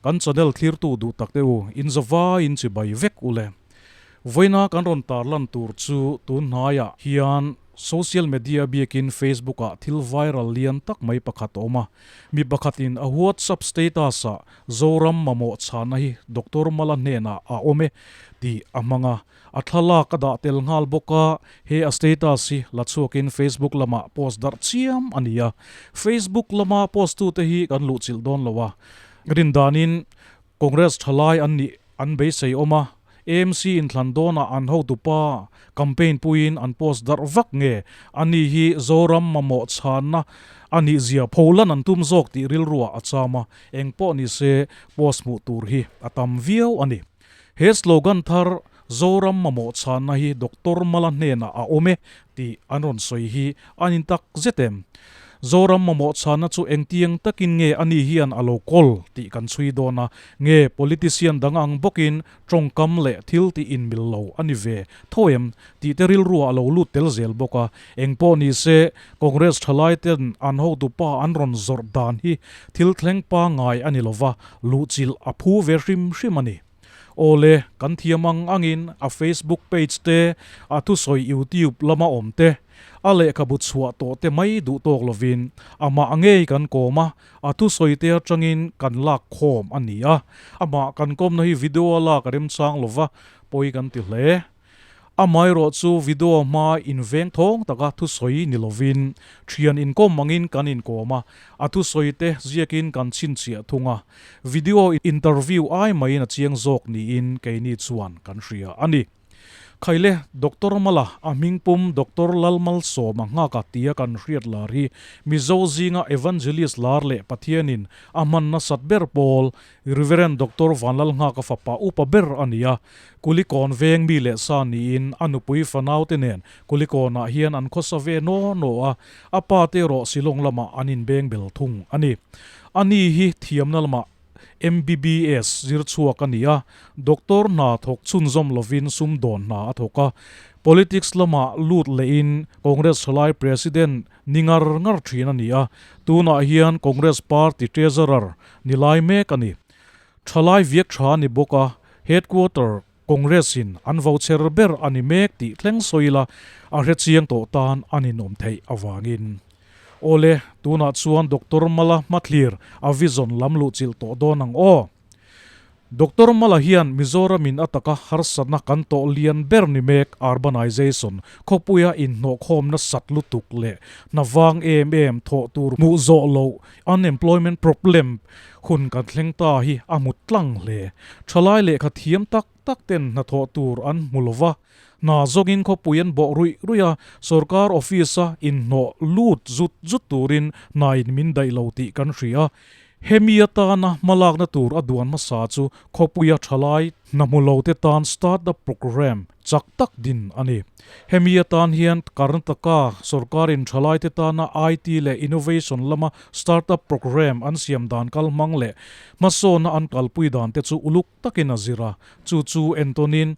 Kan channel thlirtu duh tak te u, inza vai in chibai vek u le. Vawiina kan rawn tar lan tur chu tun hnaiah hian social media biakin Facebook ah thil viral lian tak mai pakhat a awm a, mi pakhat in a WhatsApp status ah Zoram mamawh chhana hi Doctor Mala hnenah a awm e tih a hmang a, A thlalak a dah tel nghal bawk a, he a status hi la chhuakin Facebook lamah post darh chiam a ni a. Facebook lama post tu te hi kan luhchilh dawn lo a, rin danin Congress thalai an nih an beisei awm a, amc inthlan dawnah an hotu pa campaign puiin an post darh vak nge a ni hi Zoram mamawh chhanna a nih zia pholan an tum zawk tih rilruah a cham a, engpawh ni se post hmuh tur hi a tam viau a ni. He slogan thar Zoram mamawh chhanna hi Doctor Mala hnenah a awm e tih an rawn sawi hi an in tak zet em? Zoram mamawh chhanna chu engtiang takin nge a ni hian a lo kawl tih kan chhui dawn a, nge politician dang ang bawkin tawngkam leh thil tih inmil lo a ni ve tho em? tih te rilruah a lo lut tel zel bawk a, Engpawh nise, Congress thalaite'n an hotupa an rawn zawrh dan hi thil thleng pangngai a ni lova, luhchilh a phu ve hrim hrim a ni. Aw le, kan thiam ang angin a Facebook page te, a thusawi YouTube lama awm te, a lehkhabu chhuah tawh te mai duh tawk lovin amah ngei kan kawm a, a thusawi te atangin kan lak khawm a ni a, amah kan kawmna hi video a lak a remchang lova pawi kan ti hle. Amaherawh chu video hma inveng thawng taka thusawi ni lovin thian inkawm angin kan inkawm a, a thusawi te ziakin kan chhinchhiah thung a. Video interview ai maiin a chiang zawk niin keini chuan kan hria a ni. Khaile Doctor Mala a hming pum Doctor Lalmalsawma nghaka tia kan hriat lar hi Mizo zinga Evangelist lar leh Pathianin a hman nasat ber pawl Reverend Doctor Vanlalnghaka fapa upa ber a ni a, Kulikawn veng mi leh sa niin a nupui fanaute nen Kulikawnah hian an khawsa ve naw naw a, a pa te erawh Silawng lamah an inbeng bel thung a ni. A ni hi thiamna lamah MBBS zir chhuak a ni a, Doctor hna thawk chhunzawm lovin sumdawn hna a thawk a, politics lamah lut lehin Congress hrilai President ni ngar ngar thin a ni a, tunah hian Congress party treasurer ni lai mek a ni. Thalai viak tha a ni bawk a, headquarter Congress in an vo chher ber a ni mek tih thleng sawi ila a hre chiang tawh tan an inawm theih avangin. Awle, tunah chuan Doctor Mala hmathlir a vision lam luhchilh tawh dawn ang aw. Doctor Mala hian Mizoramin a taka harsatna kan tawh lian ber ni mek urbanization, khawpuia inhnawhkhawmna sat lutuk leh hna vang em em thawh tur hmuh zawh loh unemployment problem hun kan thleng ta hi a hmu tlang hle. Thalai lehkha thiam tak tak ten hna thawh tur an hmu lo va, Hna zawngin khawpui an bawh ruih ruih a, sorkar office-a inhnawh lut zut zut turin hnain min daih lo tih kan hria a. Hemi atana hmalakna tur a duan hmasa chu khawpuia thalai hnahmulote tan start-up programme chak tak din a ni. Hemi atan hian Karnataka sorkarin thalaite tana IT leh innovation lama start-up programme an siam dan kal hmang leh hmasawna an kalpui dan te chu uluk takin a zir a. Chu chu en tawnin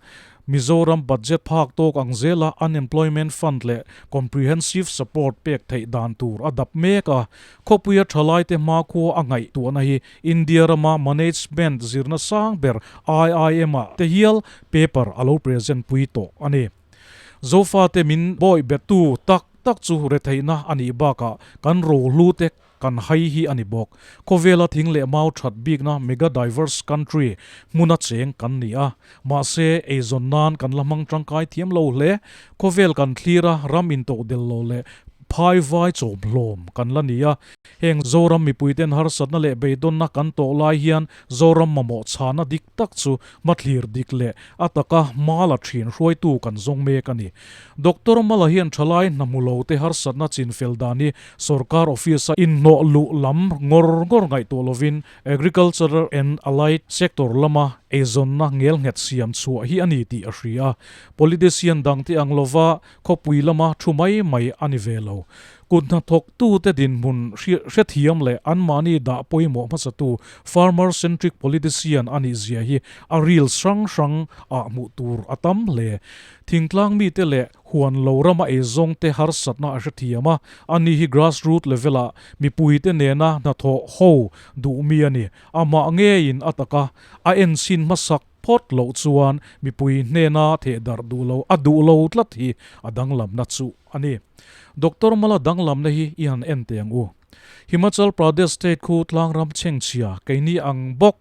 Mizoram budget phak tawk ang zela Unemployment Fund leh Comprehensive Support pek theih dan tur a dap mek a. Khawpuia thalaite hma khua a ngaih tuahna hi India rama Management zirna sang ber IIM ah te hial paper a lo present pui tawh a ni. Zofate min bawih bettu tak tak chu retheihna a nih bakah kan rohlute kan hai hi a ni bawk. Khawvela thing leh mau that bikna mega diverse country hmuna cheng kan ni a, mahse eizawn nan kan la hmang tangkai thiam lo hle. Khawvel kan thlir a, ram intoh del lo leh phai vai chawm hlawm kan la ni a, heng Zoram mipuiten harsatna leh beidawna kan tawh lai hian Zoram mamawh chhana dik tak chu hmathlir dik leh a taka mala thin hruaitu kan zawng mek a ni. Doctor mala hian thalai hnahmu lote harsatna chinfel dan hi Sorkar Office-a inhnawh luh lam ngawr ngawr ngaihtuah lovin Agricultural and Allied Sector lama eizawnna ngelnghet siam chhuah hi a ni tih a hria a. Politician dang te ang lova khawpui lama thu mai mai a ni ve lo. Kut hna thawktute dinhmun hrethiam leh an mahni dah pawimawh hmasatu farmer centric politician a nihzia hi a ril hrang hrang ah hmuh tur a tam hle. Thingtlang mite leh. Huan lo rama ei zawng te harsatna a hrethiam a, a nih hi grassroot level ah mipui te nena hnathawh ho duh mi a ni. Amah nge in a taka a en sin hmasak phawt loh chuan mipui hnena theh darh duh lo a duh lo tlat hi a danglamna chu a ni. Doctor Mala danglamna hi i han en teh ang u. Himachal Pradesh state khu Tlangram chhengchhia keini ang bawk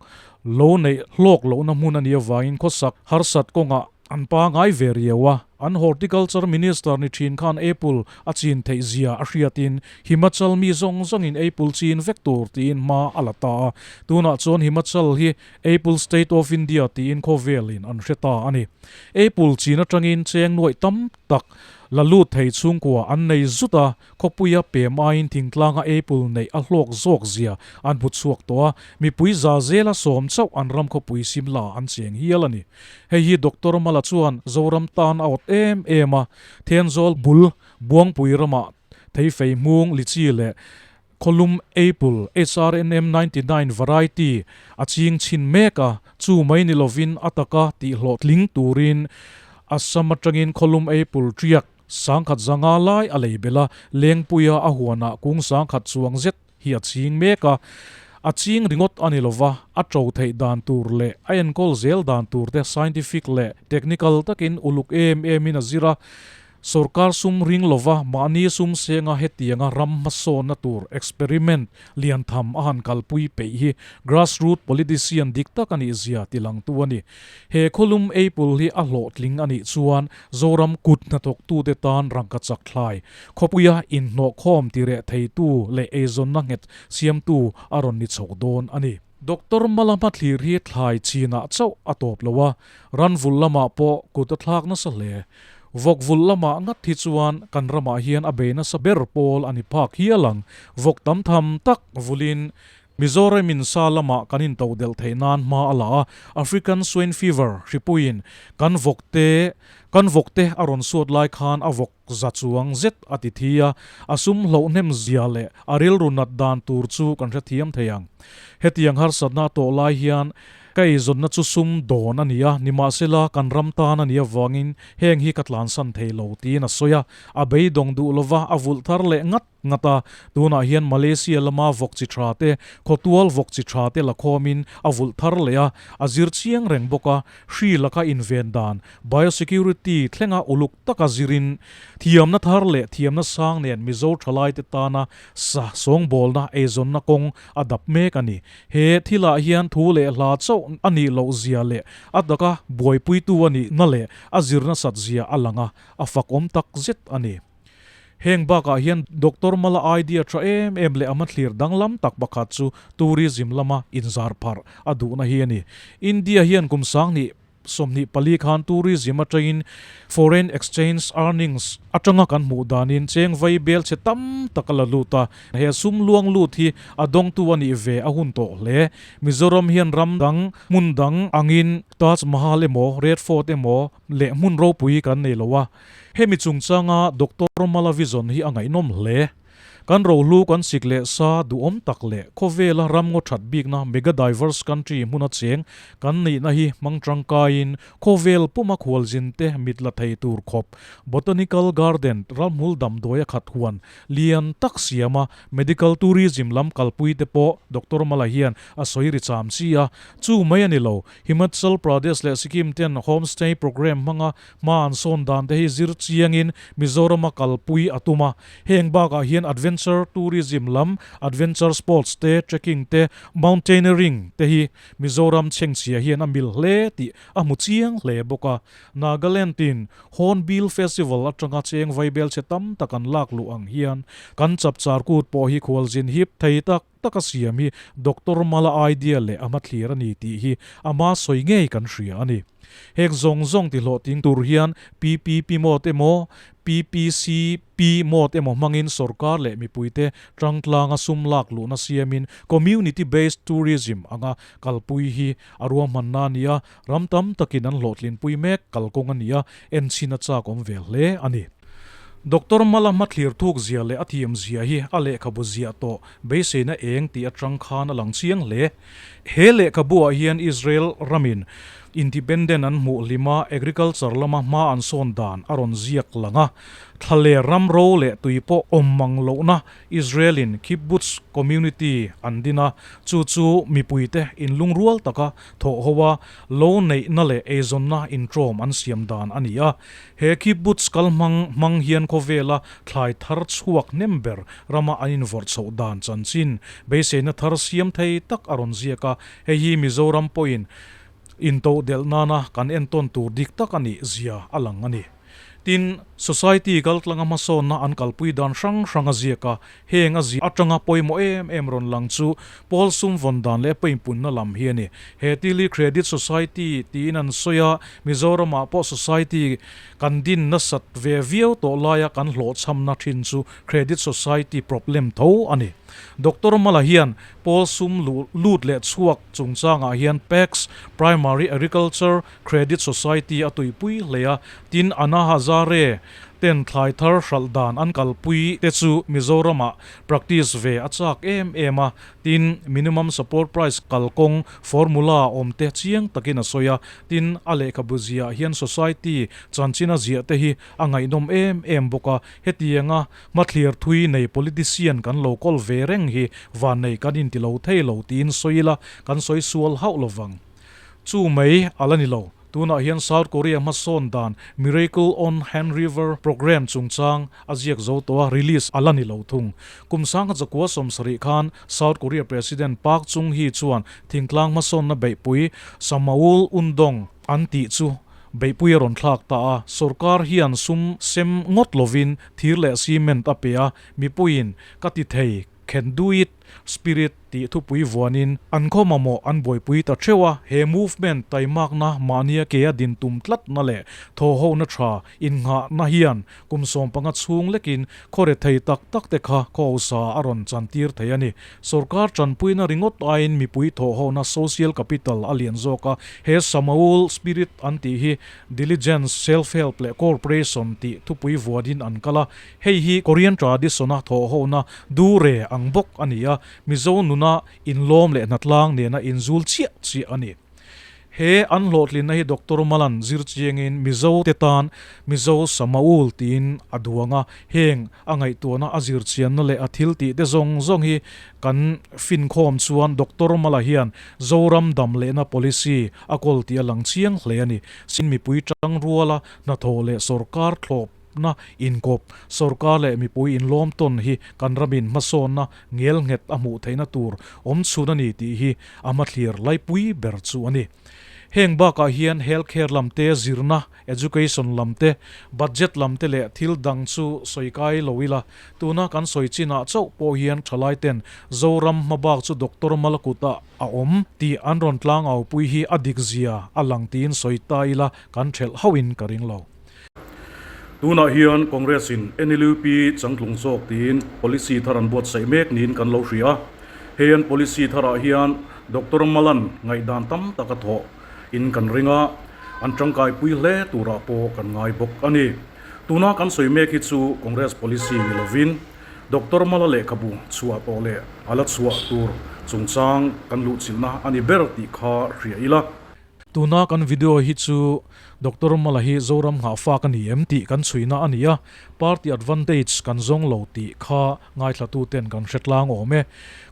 lo neih hlawk lohna hmun a nih avangin khawsak harsat kawngah An pa ngai ve riau a, an Horticulture Minister ni thin khan apple a chin theih zia a hriatin Himachal mi zawng zawngin apple chin vek tur tiin hma a la ta a. Tunah chuan Himachal hi Apple State of India tiin khawvelin an hre ta a ni. Apple chin atangin cheng nuaih tam tak la lut thei chhungkua an nei zut a, Khawpuia pe maiin thingtlanga apple neih a hlawk zawk zia an hmu chhuak tawh a, mipui za zela sawm chauh an ram khawpui sim la an cheng hial a ni. Hei hi Doctor Mala chuan Zoram tan a awt em em a, Thenzawl bul Buangpui ramah Theifei hmung lichi leh khawlum apple HRNM ninety nine variety a ching chhin mek a, chu mai ni lovin a taka tih hlawhtling turin Assam atangin khawlum apple tiak Sangkhat zanga lai a lei bela Lengpuia a huanah kung sangkhat chuang zet hi a ching mek a, a ching ringawt a ni lo va, a ṭo theih dan tur leh a enkawl zel dan tur te scientific leh technical takin uluk em em in a zir a, sorkar sum ring lo va mahni sum senga hetianga ram hmasawnna tur experiment lian tham a han kalpui peih hi grassroot politician dik tak a nih zia ti lang tu a ni. He khawlum eipul hi a hlawhtling a nih chuan Zoram kut hnatawktute tan rangka chak thlai, khawpuia inhnawhkhawm ti reh theitu leh eizawnna nghet siamtu a rawn ni chho dawn a ni. Doctor Mala hmathlir hi thlai chinah chauh a tawp lo a, ran vulh lamah pawh kut a thlak nasa hle. Vawk vulh lamah ngat hi chuan kan ramah hian a bei nasa ber pawl a ni phak hial ang. Vawk tam tham tak vulhin Mizoramin sa lama kan into delh theih nan hma a la a, African Swine Fever hripuiin kan vawk te kan vawk te a rawn suat lai khan a vawk za chuang zet a ti thi a, a sum hloh hnem zia leh a rilru nat dan tur chu kan hre thiam thei ang. Hetiang harsatna tawh lai hian ka eizawnna chu sum dawn a ni a, nimahsela kan ram tan a nih avangin heng hi ka tlansan thei lo tiin a sawi a, a beidawng duh lova a vulh thar leh ngat. Ngat a, tunah hian Malaysia lama vawk chi tha te, khawtual vawk chi tha te la khawmin a vulh thar leh a, a zir chiang reng bawk a, Hri Lakha inven dan, Biosecurity, thlenga uluk taka zirin thiamna thar leh thiamna sang nen Mizo thalaite tana sa sawngbawlna eizawnna kawng a dap mek a ni. He thilah hian thu leh hla chauh a nih loh zia leh a taka buaipuitu a nihna leh a zir nasat zia a lang a, a fakawm tak zet a ni. Heng bakah hian Doctor Mala idea tha em em leh a hmathlir danglam tak pakhat chu tourism lama inzar pharh a duhna hi a ni. India hian kum sangni sawmhnih pali khan tourism atangin foreign exchange earnings atanga kan hmuh danin cheng vai bel che tam tak a la lut a. He sum luang lut hi a dawngtu a nih ve a hun tawh hle. Mizoram hian ram dang, hmun dang angin Taj Mahal emaw, Red Fort emaw leh hmun ropui kan nei lo a. Hemi chungchanga Doctor Malavison hi a ngaihnawm hle. Kan rohlu kan sik leh sa, duhawm tak leh khawvela ram ngaw that bikna mega diverse country hmun a cheng kan nihna hi hmang tangkaiin khawvel puma khualzin te mit la thei tur khawp botanical garden ralhmul damdawi a khat huan lian tak siama medical tourism lam kalpui te pawh Doctor Mala hian a sawi ri cham chi a. Chu mai a ni lo, Himachal Pradesh leh Sikkim ten homestay programme hmanga Hma an sawn dan te hi zir chiangin Mizorama kalpui a tum a. Heng bakah hian adventure tourism lam, adventure sports te, trekking te, mountaineering te hi Mizoram chhengchhia hian a mil hle tih a hmu chiang hle bawk a. Nagaland-in Hornbill Festival atanga cheng vaibelchhe tam tak an lak luh ang hian kan chapchar kut pawh hi khualzin hip thei tak, taka siam hi Doctor Mala idea leh a hmathlir a ni tih hi a hma sawi ngei kan hria a ni. Hek zawng zawng tihlawh ting tur hian PPP mode emaw, PPCP mode emaw hmangin sawrkar leh mipuite tangtlanga sum lak luhna siamin Community Based Tourism anga kalpui hi a ruahmanna a ni a, Ram tam takin an hlawhtlin pui mek kal kawng a nia, enchhin a chak awm ve hle a ni. Doctor Mala hmathlir thuk zia leh a thiam zia hi a lehkhabu ziah tawh beiseina eng tih atang khan a lang chiang hle. He lehkhabuah hian Israel ramin Independent an hmuh hlim a, agriculture lama hma an sawn dan a rawn ziak lang a, thla leh ram ro leh tui pawh awm mang lohna Israelin kibbutz community an din a, chu chu mipuite in lungrual taka Thawh ho a, lo neihna leh eizawnna intawm an siam dan a ni a. He kibbutz kal hmang hmang hian khawvela thlai thar chhuak hnem ber rama an invawrh chhoh dan chanchin beiseina thar siam thei tak a rawn ziak a, hei hi Mizoram pawhin intoh delh nana kan entawn tur dik tak a nih zia a lang a ni. Tin, Society kaltlanga hmasawnna an kalpui dan hrang hrang a ziak a, heng a zia atanga pawimawh em em rawn lang chu Paul sumvawn dan leh pawimpunna lam hi a ni. He Tili Credit Society tiin an sawi a, Mizoramah pawh Society kan din nasat ve viau tawh laia kan hlawhchhamna thin chu Credit Society problem tho a ni. Doctor Mala hian Paul sum luh lut leh chhuak chungchangah hian PACS, Primary Agriculture, Credit Society a tuipui hle a, tin Anna Hazare ten thlai thar hralh dan an kalpui te chu Mizoramah practice ve a chak em em a, tin Minimum Support Price kal kawng formula a awm te chiang takin a sawi a, tin a lehkhabu ziah hian Society chanchin a ziah te hi a ngaihnawm em em bawk a, hetianga hmathlir thui nei politician kan lo kawl ve reng hi vannei kan inti lo thei lo tiin sawi ila kan sawi sual hauh lovang. Chu mai a la ni lo. Tunah hian South Korea hmasawn dan Miracle on Han River programme chungchang a ziak zo tawh a, release a la ni lo thung. Kum sang kha chakua sawm sarih khan South Korea President Park Chung Hee chuan thingtlang hmasawnna beihpui Samaul Undong an tih chu beihpui a rawn thlak ta a. Sorkar hian sum sem ngawt lovin thir leh cement a pe a, mipuiin ka ti thei khenduit. Spirit tih thupui vuanin an khaw mamawh an buaipui ta theuh a, he movement taimakna mahnia kea din tum tlatna leh thawhhona tha innghahna hian kum sawm panga chhung lekin khawrethei tak takte kha khawusa a rawn chantir thei a ni. Sorkar tanpuina ringawt aiin mipui thawhhona social capital a lian zawk a, he Samaul Spirit an tih hi diligence, self-help leh cooperation tih thupui vuanin an kal a, Hei hi Korean tradition-a thawhhona dure ang bawk a ni a, Mizo nuna inlawm leh hnatlang nena inzul chiah chiah a ni. He an hlawhtlinna hi Doctor Malan zir chiangin Mizo te tan Mizo Samaul tiin a duang a, heng a ngaihtuahna, a zirchianna leh a thil tihte zawng zawng hi kan finkhawm chuan Doctor Mala hian Zoram dam lehna policy a kawl tih a lang chiang hle a ni. Chin mipui tangruala hnathawh leh sorkar thlawp. na inkawp sorkar leh mipui inlawm tawn hi kan ram in hmasawnna ngelnghet a hmuh theihna tur awm chhun a ni tih hi a hmathlir laipui ber chu a ni. Heng bakah hian health care lam te zirna, education lam te, budget lam te leh thil dang chu sawi kai lo ila, tuna kan sawi chinah chauh pawh hian thalai ten Zoram hma bak chu doctor mal kutah a awm tih an rawn tlang aupui hi a dik zia a lang tiin sawi ta ila kan hrelh hauhin ka ring lo. Tunah hian Congress-in NLUP changtlung zawk tiin policy thar an buatsaih mek niin kan lo hria. Hei an policy tharah hian Doctor Malan ngaihdan tam tak a thawh in kan ring a, an tangkai pui hle turah pawh kan ngai bawk a ni. Tuna kan sawi mek hi chu Congress policy ni lovin Doctor Mala lehkhabu chhuah tawh leh a la chhuah tur chungchang kan luhchilhna a ni ber tih kha hria ila. Tuna kan video hi chu Doctor Mala hi Zoram nghah fak a ni em tih kan chhuina a ni a, party advantage kan zawng lo tih kha ngaithlatu ten kan hretlang awm e.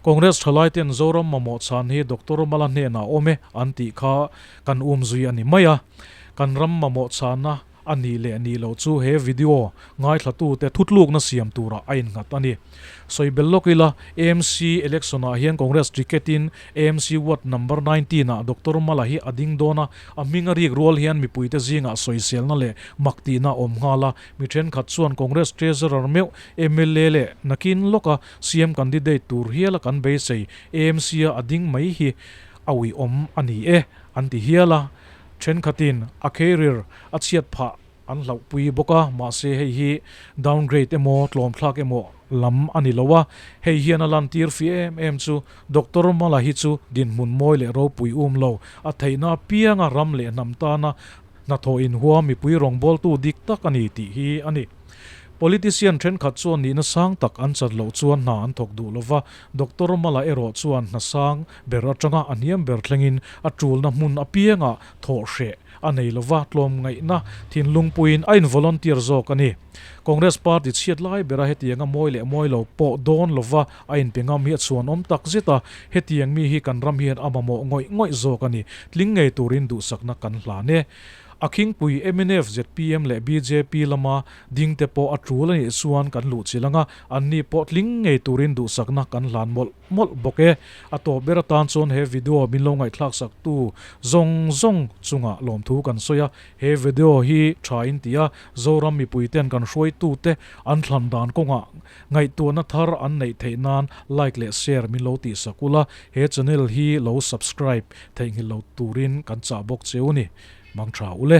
Congress thalai ten Zoram mamawh chhan hi Doctor Mala hnenah awm e an tih kha kan um zui a ni mai a. Kan ram mamawh chhana A nih leh nih loh chu he video ngaithlatute thutlukna siam tura a inghat a ni. Sawibel lawk ila mc election ah hian Congress ticket in mc ward number nineteen ah Doctor Mala hi a ding dawn a, a hming a rik rual hian mipuite zingah sawiselna leh mak tihna a awm nghal a, mi thenkhat chuan Congress treasurer meuh, mla leh nakin lawka CM candidate tur hiala kan beisei, mc a a ding mai hi a uiawm a ni e an ti hial a, Thenkhatin a career a chhiat phah an hlauhpui bawk a, mahse hei hi downgrade emaw tlawmthlak emaw lam a ni lo a, hei hian a lantir fi em em chu Doctor Mala hi chu dinhmun mawi leh ropui um lo, a theihna apianga ram leh hnam tana hnathawh inhuam mipui rawngbawltu dik tak a ni tih hi a ni. Politician thenkhat chuan nihna sang tak an chat loh chuan hna an thawk duh lo va, Doctor Mala erawh chuan hna sang Ber atanga a hniam ber thlengin a tulna hmun apiangah thawh hreh a nei lova tlawm ngaihna thin lungpuiin a involunteer zawk a ni. Congress party chhiat lai bera hetiang a mawi leh mawi lo pawh dawn lova a inpe ngam hi a chhuanawm tak zet a, hetiang mi hi kan ram hian a mamawh ngawih ngawih zawk a ni, tling ngei turin duhsakna kan hlan e. A khingpui mnf, zpm leh bjp lama dingte pawh a tul a nih chuan kan luh chilh ang a, anni pawh tling ngei turin duhsakna kan hlan mawlh. mawlh bawk e, a tawp ber atan chuan he video min lo ngaihthlak sak tu zawng zawng chungah lawmthu kan sawi a, he video hi tha in ti a, Zoram mipui ten kan hruai tu te an thlan dan kawngah ngaihtuahna thar an neih theih nan like leh share min lo tih sak ula, he channel hi lo subscribe theihnghilh lo turin kan chah bawk che u ni, mang tha ule.